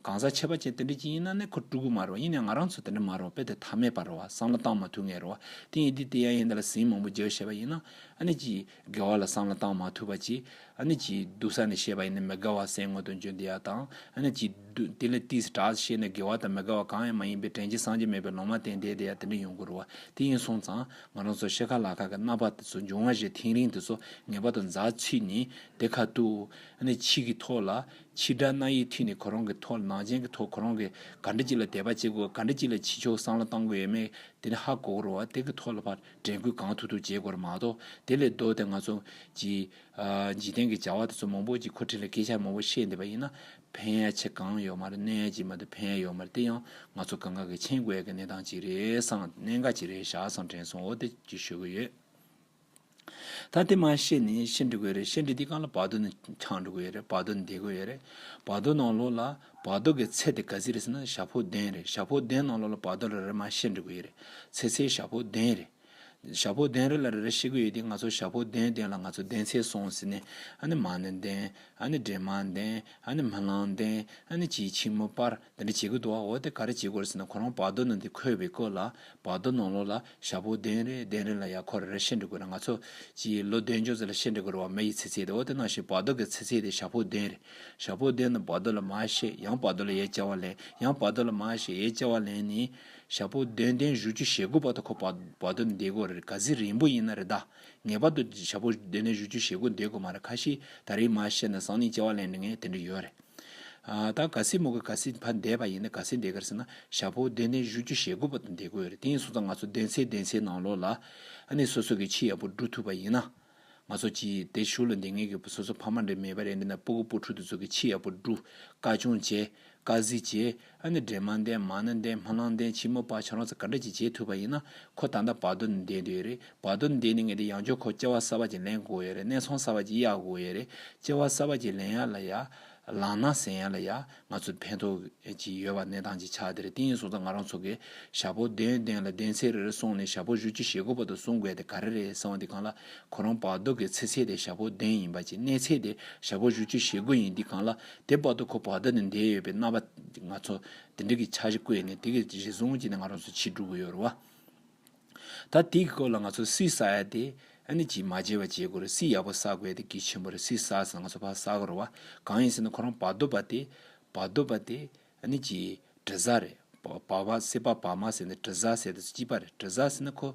གང་ཟག་ཁྱད་པ་ཅན་དེ་འདྲ་གྱི་ཡིན་ན་ནས་ཁོ་ཀྲུག་གི་མ་རེད་བ་ཡིན་ནས་ང་རང་ཚོ་དེ་འདྲ་མ་རེད་བ་དཔེ་དེ་ཐ་མས་པ་རེད་བ་སང་ལ་བཏང་མ་ཐུག་ངེས་རེད་བ་དེ་ཡིན་དུས་དེ་ཡ་ཡིན་དེ་ལ་ཟིན་མང་པོ་རྒྱའོ་བྱེད་པ་ཡིན་ན་ཨ་ནི་གྱི། དགེ་བ་ལ་སྲང་ལ་བཏང་མ་ཐུབ་པ་ཅི། ཨ་ནི་ཅི། སྡུག་ས་ནས་ཤེས་པ་ཡིན་ན་མི་དགའ་བ་སའི་སྔོན་དུ་འཇོན་འདི་ཡག་དང། ཨ་ནི་ཅི། དེ་ལས་ཏིས་ཏྲ་ཤེས་ན་དགེ་བ་དང་མི་དགའ་བ་གང་ཡང་མ་ཡིན་པས་དྲན་ཅིང་སངས་རྒྱས་མེད་པའི་ལོང་མ་བསྟན་དེ་དེ་ཡང་དེ་འདྲ་ཡོང་དགོས་རུ་བ་དེ་ཡིན་སོང་ཙང། ང་རང་ཚོ་ཤེས་ཁ་ལག་ཁ་གི་རྣ་བ་དེ་ཚོ་འབྱུང་བ་བཞིན་ཐེངས་རིང་དེ་ཚོ་ངེས་པ་དང་འཛག་ཕྱིས་ནི་དེ་ཁ་ཏུའུ། ཨ་ནི་ཕྱིས་ཀྱི་ཐོག་ལ། ཕྱིས་དྲ་སྣ་ཡི་མཐུས་ནི་ཁོ་རང་གི་ཐོག་ལ་ནང་བྱན་གྱི་ཐོག་ཁོ་རང་གི་ག་འདྲི་ཅིག་ལ་དད་པ་བྱེད་དགོས་ག་འདྲི་ཅིག་ལ་ཕྱི་ཕྱོགས་སྲང་ལ་བཏང་དགོས་ཡོད་མེད་དེ་ནི་ཧ་གོ་རུ་བ་དེ་གི་ཐོག་ལ་ཕར། དྲན་སྐུལ་གང་ཐུབ་ཐུབ་བྱེད་དགོས་པ་མ་གཏོགས་དེ་ལས་ལྡོག་སྟེ་ང་ཚོ། འཇིག་རྟེན་གྱི་བྱ་བ་དེ་ཚོ་མང་པོ་ཅིག་ཁོ་ཕྲན་ལ་སྐད་ཆ་མང་པོ་བཤད་འདོད་པ་ཡིན་ན། ཕན་ཡ་ཆེ་གང་ཡོད་མ་རེད་གནོད་ཡ་ཅིག་མ་རེད་ཕན་ཡ་ཡོད་མ་རེད་དེ་ཡང་ང་ཚོ་གང་ག་གི་མཆན་བཀོད་ཀྱི་གནས་སྟངས་ཅིག་རེད་སང་གནད་འགག་ཅིག་རེད་བཞག་སང་དྲན་སོང་འོ་དེ་ཅིག་ཤོད་ཀྱི་ཡོད། ད་དེ་མ་ཤེས་ནས་ཤི་འགྲོ་གི་ཡོད་རེད་ཤི་འགྲོ་དེ་གང་ལ་བར་དོ་ནི་འཆང་འགྲོ་གི་ཡོད་རེད་བར་དོ་ནི་འདས་གི་ཡོད་རེད་བར་དོ་ནང་ལོགས་ལ། བར་དོ་གི་ཚད་དེ་ག་ཟི་རེད་ཟེར་ན་ཞྭ་ཕོ་གདན་རེད་ཞྭ་ཕོ་གདན་ནང་ལོགས་ལ་བར་དོ་རེ་རེ་མ་བཤད་འགྲིག་གི་ཡོད་རེད་ཚེ་ཚེ་ཞྭ་ཕོ་གདན་རེད། ཞྭ་ཕོ་གདན་རེ་ལ་རེ་རེ་བཤད་གི་ཡོད་དེ་ང་ཚོ་ཞྭ་ཕོ་གདན་གདན་ལ་ང་ཚོ་གདན་ཚད་སོང་ཟེར་ནས་ཨ་ནི་མ་ནི་གདན་ཨ་ནི་འདྲེ་མ་གདན་ཨ་ནི་མི་ལང་གདན་ཨ་ནི་སྤྱིའི་ཕྱི་མོ་པར་འདི་འདྲ་བྱེད་གི་འདུག་ཨ་འོ་དེ་ག་རེ་བྱེད་དགོས་རེད་ཟེར་ན་ཁོ་རང་བར་དོ་ནང་དེ་འཁོད་པའི་སྐོར་ལ་བར་དོ་ནང་ལོགས་ལ་ཞྭ་ཕོ་གདན་རེ་གདན་རེ་ལ་ཡང་ཁོ་རེ་རེ་ཤེས་འདྲི་དགོས་ན་ང་ཚོ་སྤྱིའི་ལོ་གདན་ཅོག་ཙེ་ལ་ཤེས་འདྲི་དགོས་རུང་བ་མ་ཡི་ཚེ་ཚད་དེ་འོ་དེ་ནང་བཞིན་བར་དོ་གི་ཚེ་ཚད་དེ་ཞྭ་ཕོ་གདན་རེ། ཞྭ་ཕོ་གདན་དང་བར་དོ་ལ་མ་ཞེས་ཡང་བར་དོ་ལ་ཡའི་བཅའ་བ་ལེན་ཡང་བར་དོ་ལ་མ་ཞེས་ཡའི་བཅའ་བ་ལེན་ནི། ཞྭ་ཕོ་གདན་གདན་བཞུ་བཅུ་ཞེ་དགུ་བར་དོ་ཁོ་བར་དོ་འདེད་དགོས་རེད་ག་ཟི་རིང་པོ་ཡིན་ན་རེད་ད། ངེས་པར་དུ་ཞྭ་ཕོ་གདན་གདན་བཞུ་བཅུ་ཞེ་དགུ་འདེད་དགོས་མ་རེད་ཁ་ཤིས་ད་རེས་མ་ཤེས་ན་སང་ནས་བཅའ་བ་ལེན་དྲི་ངས་དེ་འདྲི་ཡོད་རེད། ད་ག་སེ་མོ་ག་ག་སེ་བ་འདས་པ་ཡིན་ན་ག་སེ་འདས་ག་རེ་ཟེར་ན་ཞག་པོ་བདེ་ནས་བཞུ་རྒྱུ་ཞེ་དགུ་པ་དང་འདས་དགོས་རེད་དེ་ཡིན་སོང་ཙང་ང་ཚོ་བདེན་ཚེ་བདེན་ཚེ་ནང་ལོག་ལ་ནི་སོ་སོ་གི་ཕྱི་ཡག་པོ་འགྲུ་ཐུབ་པ་ཡིན་ན་ང་ཚོ་ཀྱི་དེ་བཞུ་ལ་འདི་ངེས་གི་སོ་སོ་ཕ་མ་འདྲེ་མེད་པ་རེད་འདི་ན་སྤུ་གུ་སྤུ་ཕྲུག་དེ་ཚོ་གི་ཕྱི་ཡག་པོ་འགྲུ་དཀའ་ཆུང་བྱེད་དཀའ་གཟི་བྱེད། ཨ་ནི་འདྲེ་མ་འདྲེ་མ་ནི་འདྲེ་མ་ལང་འདྲེ་ཆེན་མོ་པ་ཆང་རོ་ཚ་ག་འདྲེ་གཅིག་བྱེད་ཐུབ་པ་ཡིན་ན་ཁོ་ད་ལྟ་བར་དོ་ནི་འདེད་འདོད་རེད་བར་དོ་ནི་འདེད་ནི་ངེས་ཏེ་ཡང་ཅོ་ཁོ་སྐྱེ་བ་གསར་པ་ཅིག་ལེན་དགོས་ཡོད་རེད་གནས་ཚོང་གསར་པ་ཅིག་གཡར་དགོས་ཡོད་རེད་སྐྱེ་བ་གསར་པ་ཅིག་ལེན་ཡ་ལ་ཡ། ལང་ན་ཟེན་ཡ་ལ་ཡ་ང་ཚོ་ཕན་ཐོགས་ཅིག་ཡོད་པ་གནས་སྟངས་ཅིག་ཆགས་བསྡད་རེད་དེ་ཡིན་སོང་ཙང་ང་རང་ཚོ་གས་ཞྭ་ཕོ་གདན་གདན་ལ་གདན་ཚད་རེ་རེ་སོང་ནས་ཞྭ་ཕོ་བཞུ་རྒྱུ་ཞེ་དགུ་པ་དུ་སོང་དགོས་དེ་ག་རེ་རེད་གསང་བ་འདི་གང་ལ་ཁོ་རང་བར་དོ་གས་ཚེ་ཚད་དེ་ཞྭ་ཕོ་གདན་ཡིན་པ་ཅིག་གནས་ཚད་དེ་ཞྭ་ཕོ་བཞུ་རྒྱུ་ཞེ་དགུ་ཡིན་འདི་གང་ལ་དེ་བར་དུ་ཁོ་བར་ད་ནི་འདས་ཡོད་པའི་རྣ་བ། ང་ཚོ་དེ་འདྲ་གི་འཆར་གཞི་བཀོད་ནས་དེ་གི་རྗེས་བཟུང་བྱས་ནས་ང་རང་ཚོ་ཕྱིར་འགྲོ་གི་ཡོད་རེད་བ། ད་དེ་གི་སྐོར་ལ་ང་ཚོ་སུས་བསགས་ཡ་དེ། ཨ་ནི་ཇི་མ་བྱས་བ་བྱེད་དགོས་རེད་སུས་ཡག་པོ་བསགས་དགོས་ཡ་དེ་གི་ཆེན་པོ་རེད་སུས་བསགས་ཟིན་ང་ཚོ་ཕར་བསགས་གི་རེད་བ། གང་ཡིན་ཟེར་ན་ཁོ་རང་བར་དོ་བ་དེ། བར་དོ་བ་དེ། ནི་ཅི། དྲི་ཟ་རེད། བ་བ་སེ་བ་བ་མ་ཟེར་ནི་དྲི་ཟ་ཟེར་དུ་ཅི་པ་རེད་དྲི་ཟ་ཟེར་ན་ཁོ།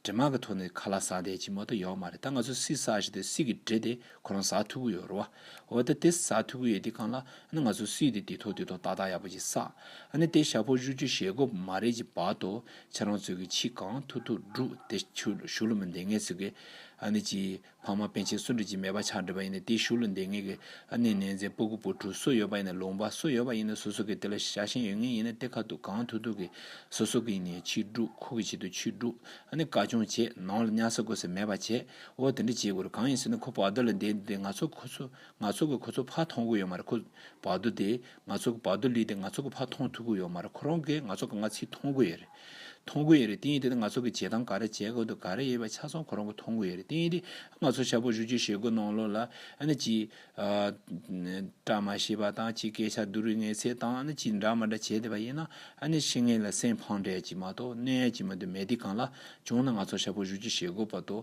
དྲི་མ་གི་ཐོག་ནས་ཁ་ལ་ཟ་འདས་ཅི་མ་གཏོགས་ཡོག་མ་རེད་ད་ང་ཚོ་སི་ཟ་བཞིན་དུ་སི་གི་དྲི་དེ་ཁོ་རང་ཟ་ཐུབ་གི་ཡོད་རོ། འོ་ད་དེ་ཟ་ཐུབ་གི་ཡོད་དེ་གང་ལ། ནི་ང་ཚོ་སི་དེ་དེ་ཐོག་དེ་ཐོག་ཏག་ཏག་ཡག་པོ་ཅིག་ཟ། ནི་དེ་ཞྭ་ཕོ་བཞུ་རྒྱུ་ཞེ་དགོས་མ་རེད་ཅིག་བར་དོ། ཁྱེད་རང་ཚོས་གི་ཕྱི་གང་ཐུག་ཐུག་འགྲུག་དེ་ཆུ་ལ་ཞུགས་ལ་མི་འདེང་ངེས་ཚོད་ཀི། ནི་ཅི། ལྷག་མ་པན་ཆེན་སུ་འབྲི་བྱེད་མེད་པ་ཆགས་འབྲི་བ་ཡིན་ནས་དེའི་གཞུག་ལ་འདེང་ངེས་ཀྱི་ཨ་ནེ་ནེ་ཛའི་སྤུ་གུ་སྤུ་གྲུ་སུ་ཡོད་པ་ཡིན་ནས་ལུང་པ་སུ་ཡོད་པ་ཡིན་ནས་སོ་སོ་གི་དེ་ལ་ཤ་ཞེན་ཡོད་ངེས་ཡིན་ནས་དེ་ཁ་ཐུག་གང་ཐུག་ཐུག་གི་སོ་སོ་གི་ནས་ཕྱིར་སྒྲུག་ཁུག་གི་ཆེད་དུ་ཕྱིར་སྒྲུག་ཨ་ནེ་བཀའ་སྐྱོང་བྱེད་ནང་ལ་གཉའ་ས་དགོས་ས་མེད་པ་བྱེད་འོ་དེ་འདྲ་བྱེད་དགོས་རེད་གང་ཡིན་ཟེར་ན་ཁོ་བག་རྡོ་ལ་འདེད་འདེད་ང་ཚོ་ཁོ་ཚོ་ང་ཚོ་གི་ཁོ་ཚོ་ཕ་མཐོང་གི་ཡོད་མ་རེད་ཁོ་བག་རྡོ་དེ་ང་ཚོ་གི་བག་རྡོ་ལུས་དེ་ང་ཚོ་གི་ཕ་མཐོང་ཐུག་གི་ཡོད་མ་རེད་ཁོ་རང་གིས་ང་ཚོ་ག་ང་ཚིག་མཐོང་གི་ཡོད་རེད། མཐོང་དགོས་ཡས་རེད་ཏིང་ཡས་དེ་ནི་ང་ཚོ་གི་བྱེད་སྟངས་ག་རེ་བྱེད་དགོས་འདུག་ག་རེ་ཡས་པ་ཆ་ཚང་ཁོ་རང་གི་མཐོང་དགོས་ཡས་རེད་ཏིང་ཡས་དེ་ང་ཚོ་ཤ་པོ་བཞུ་རྒྱུ་ཞེད་དགོས་གནང་ལོ་ལ་ཨ་ནི་ཅི། བཀྲ་མ་ཤིས་པ་དང་ཅི་སྐད་ཆ་བསྡུ་རུས་ངེས་ཚད་དང་ཨ་ནི་ཅི་འདྲ་མ་འདྲ་བྱེད་བསྡད་པ་ཡིན་ན་ཨ་ནི་ཤི་ངེས་ལ་སེམས་ཕངས་འདྲད་ཀྱི་མ་གཏོགས་གནོད་ཡས་ཀྱི་མི་འདུག་མེ་དེ་གང་ལ་བྱུང་ན་ང་ཚོ་ཤ་པོ་བཞུ་རྒྱུ་ཞེད་དགོས་པ་དོ།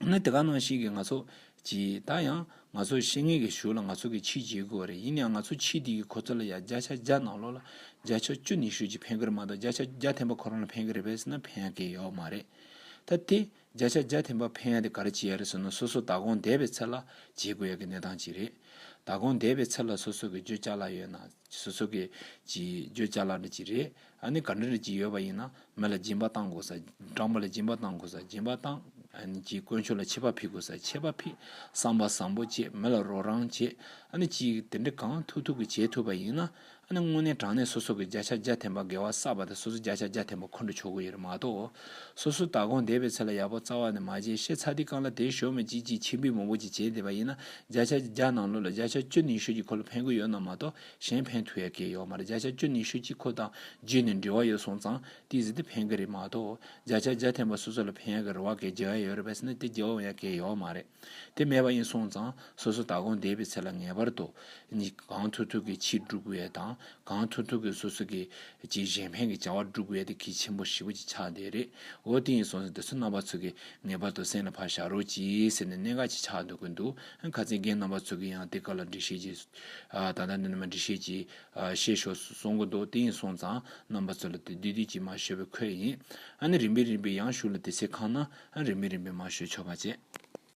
ནི་དེ་ག་ནང་བཞིན་གྱི་ང་ཚོ་གཅིག་ད་ཡང་ང་ཚོ་ཤེས་ངེས་ཀྱི་ཞུ་ལ་ང་ཚོ་གི་ཕྱིས་བྱེད་དགོས་བ་རེད་ཡིན་ནའང་ང་ཚོ་ཕྱིས་དེ་གི་ཁོ་ཚོ་ལ་ཡང་བརྒྱ་ཆ་བརྒྱ་ནང་ལོགས་ལ་བརྒྱ་ཆ་བཅུ་ནས་ཞུ་ཅིག་ཕན་གི་རེད་མ་གཏོགས་བརྒྱ་ཆ་བརྒྱ་ཐེམ་པ་ཁོ་རང་ལ་ཕན་གི་རེད་བས་ཟེར་ན་ཕན་གི་ཡོད་མ་རེད་ད་དེ་བརྒྱ་ཆ་བརྒྱ་ཐེམ་པ་ཕན་ཡ་དེ་ག་རེ་བྱེད་ཡ་རེད་ཟེར་ན་སོ་སོ་ད་གོང་བསྡད་པའི་ཚེ་ལ་བྱེད་དགོས་ཡ་གི་གནས་སྟངས་གཅིག་རེད་ད་གོང་བསྡད་པའི་ཚེ་ལ་སོ་སོ་གི་བརྗོད་བྱ་ལ་ཡོད་ན། སོ་སོ་གི། ཅི། བརྗོད་བྱ་ལ་འདྲི་ཅི་རེད། ཨ་ནི་ག་འདྲ་འདྲི་ཅི་ཡོད་པ་ཡིན་ན། མི་ལ་སྦྱིན་པ་བཏང་དགོས་ས། སྦྲང་མ་ལ་སྦྱིན་པ་བཏང་དགོས་ས། སྦྱིན་པ་བཏང། ཨ་ནི་ཅི། དཀོན་མཆོག་ལ་ཆད་པ་ཕིག་དགོས་ས། ཆད་པ་ཕིག། བསམ་པ་བཟང་པོ་བྱེད། མི་ལ་རོགས་རང་བྱེད། ཨ་ནི་ཅི། དེ་འདྲ་གང་ཐུབ་ཐུབ་ཀྱིས་བྱེད་ཐུབ་པ་ཡིན་ན། ཨ་ནི་དངོས་གནས་དྲང་གནས་སོ་སོ་གི་བརྒྱ་ཆ་བརྒྱ་འཐེན་པ་དགེ་བ་བསགས་པ་དེ་སོ་སོ་བརྒྱ་ཆ་བརྒྱ་འཐེན་པ་འཁོན་འགྲོ་ཆོག་གི་ཡོད་རེད་མ་གཏོགས། སོ་སོ་ད་དགོངས་དེ་བས་ཚེ་ལ་ཡག་པོ་རྩ་བ་ནས་མ་བྱས་ཤེས་ཚ་འདི་རྐང་ལ་དེ་ཞོ་མེད་ཅིག་ཅིག་ཆིག་འབུད་མོག་པོ་ཅིག་བྱེད་བསྡད་པ་ཡིན་ན་བརྒྱ་ཆ་བརྒྱ་ནང་ལོ་ལ་བརྒྱ་ཆ་བཅུ་ནི་ཤོད་ཀྱི་ཁོ་ལ་ཕན་གི་ཡོད་ན་མ་གཏོགས་གཞན་ཕན་ཐུག་ཡ་གི་ཡོད་མ་རེད་བརྒྱ་ཆ་བཅུ་ནི་ཤོད་ཀྱི་ཁོ་དང་རྗེས་ནས་འབྲེལ་བ་ཡོད་སོང་ཙང་ཏིག་ཟིག་དེ་ཕན་གི་རེད་མ་གཏོགས་བརྒྱ་ཆ་བརྒྱ་ཐན་པ་སོ་སོ་ལ་ཕན་ཡ་གི་རེད་བ་གས་བརྒྱ་ཡ་ཡོད་རེད་བས་སེ་ན་དེ་བརྒྱ་བ་ཡ་གས་ཡོད་མ་རེད་དེ་མེད་པ་ཡིན་སོང་ཙང་སོ་སོ་ད་གོང་བསྡད་པའི་ཚེ་ལ་ངེས་པར་དུ་གང་ཐུག་ཐུག་གི་ཕྱིར་སྒྲུབ་ཡ་དང་གང་ཐུག་ཐུག་གིས་སོ་སོ་གི། ཅི་བཞིན་བྷན་གྱི་བྱ་བ་འགྲུབ་བའི་ཏེ་གྱི་ཆེན་པོ་བཞི་པོ་ཅི་ཆགས་འདི་རེད་འོ་དེ་ཡིན་སོང་ཟེར་དེ་ཚོ་རྣམ་པ་ཚོ་གི་ངེས་པར་དུ་སེམས་ལ་ཕར་བཞག་རོགས་གྱིས་ཟེར་ནས་གནད་འགག་ཅི་ཆགས་འདོད་གི་འདུག་ཨང་ཁ་ཚིག་རྒན་རྣམ་པ་ཚོ་གི་ཡང་དེ་ཀ་ལ་འདྲི་ཤེས་ཀྱིས། ད་ལྟ་འདི་ནས་མ་འདྲི་ཤེས་ཀྱིས། ཤེས་ཤོག་ཟེར་སོང་གི་འདུག་དེ་ཡིན་སོང་ཙང་རྣམ་པ་ཚོ་ལ་དེ་བསྡུས་བསྡུས་ཀྱིས་མ་ཤོད་པའི་ཁོད་ཡིན། ཨ་ནི་རིམ་པས་རིམ་པས་ཡང་ཞུགས་ལ་དེ་ཚེ་ཁང་ན་ཨ་རིམ་པས་རིམ་པས་མ་ཤོད་ཆོ་ག་བྱེད།